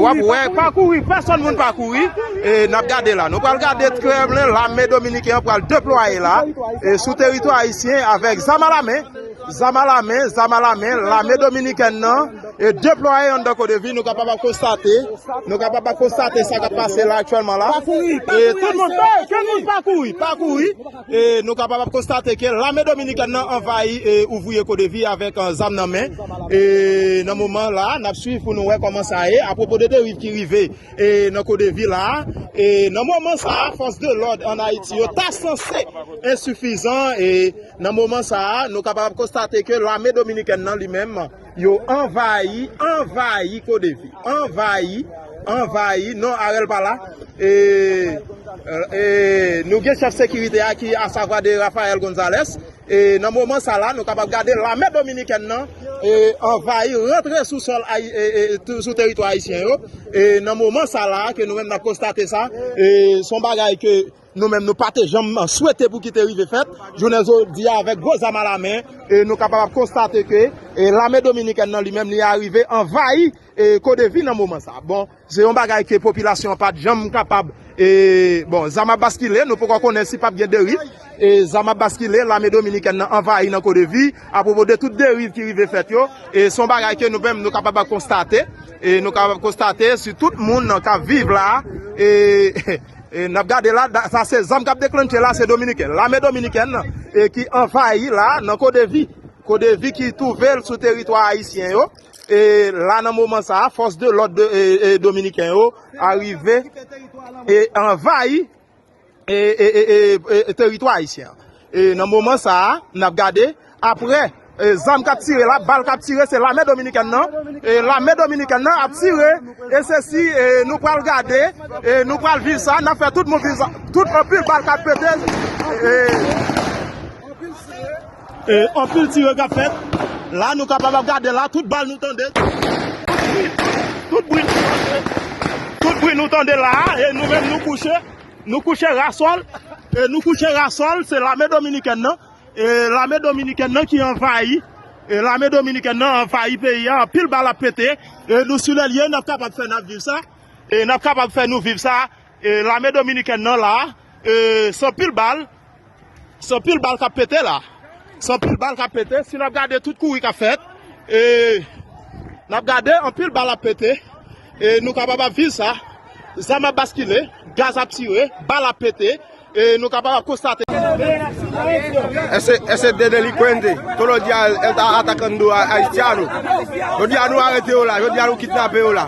Wap wè pa kouri pèsòn moun pa kouri nap gade la nou pral gade trèblen lame dominiken an pral deplwaye la sou teritwa ayisyen avèk zam a lamen zam a lamen zam a lamen lame dominiken nan e deplwaye an dan kodevi nou kapab ap konstate nou kapab ap konstate sa kap pase la aktyèlman la e tout moun pa kouri pa kouri Nou kapab ap konstate ke lame dominikèn nan anvayi ouvriye CODEVI avèk zam nan men e nan moman la nap swiv pou nou wè kòman sa ye apwopo de deriv ki rive nan CODEVI la e nan moman sa fòs de lòd an Ayiti yo ta sanse ensifizan e nan moman sa nou kapab ap konstate ke lame dominikèn nan li menm. Yo anvayi, anvayi kodevi. Anvayi, anvayi, non Arel pa la. Nou gen chèf sekirite a ki a savwa de Rafael Gonzalez. E nan moman sa la, nou kapab gade lame dominikèn nan anvayi, rantre sou sol, sou teritwa ayisyen yo. E nan moman sa la, ke nou menm nan konstate sa, son bagay ke. Nou menm nou pa te janm swete pou ki te rive fèt, jounen jodi a avèk gwo zam alamen, nou kapab ap konstate ke lame dominikèn nan li menm li arive anvayi Kodevi nan moman sa. Bon, se yon bagay ke popilasyon an pat janm kapab, bon zam ap baskile, nou poko konnen si pap gen deriv, zam ap baskile, lame dominikèn nan anvayi nan Kodevi, apropo de tout deriv ki rive fèt yo, se yon bagay ke nou menm nou kapab ap konstate, nou kapab ap konstate si tout moun kap viv la. E nap gade la, sa se zam kap deklannche la, se dominiken. Lame dominiken nan, e ki anvayi la nan kodevi. Kodevi ki touvel sou teritwa ayisyen yo. E la nan moman sa, fos de lod de dominiken yo, arive, e anvayi, e teritwa ayisyen. E nan moman sa a, n ap gade, aprè zam k ap tire la, bal k ap tire, se lame dominikèn nan, e lame dominikèn nan ap tire, e se si nou pral gade, e nou pral viv sa, n ap fè tout moun viv sa, tout anpil bal k ap pete, e anpil tire, e anpil tire k ap fèt, la nou kapab ap gade la, tout bal nou tande, tout bri, tout bri nou tande la, e nou menm nou kouche. Nou kouche ra sòl, nou kouche ra sòl, se lame dominikèn nan, lame dominikèn nan ki anvayi, lame dominikèn nan anvayi peyi a, anpil bal ap pete, nou sou lèliye, n ap kapab fè n ap viv sa, n ap kapab fè nou viv sa, lame dominikèn nan la, se anpil bal. Se anpil bal kap pete la. Se anpil bal kap pete. Si nap gade tout kouri kap fèt. E nap gade anpil bal ap pete. E nou kapab ap viv sa. Zam ap baskile. Gaz ap tire. Bal ap pete. E nou kapab ap konstate. Ese de delikwente, tolo di al atacando a Haitiano. Yo di a nou arete yo la, yo di a nou kidnape yo la.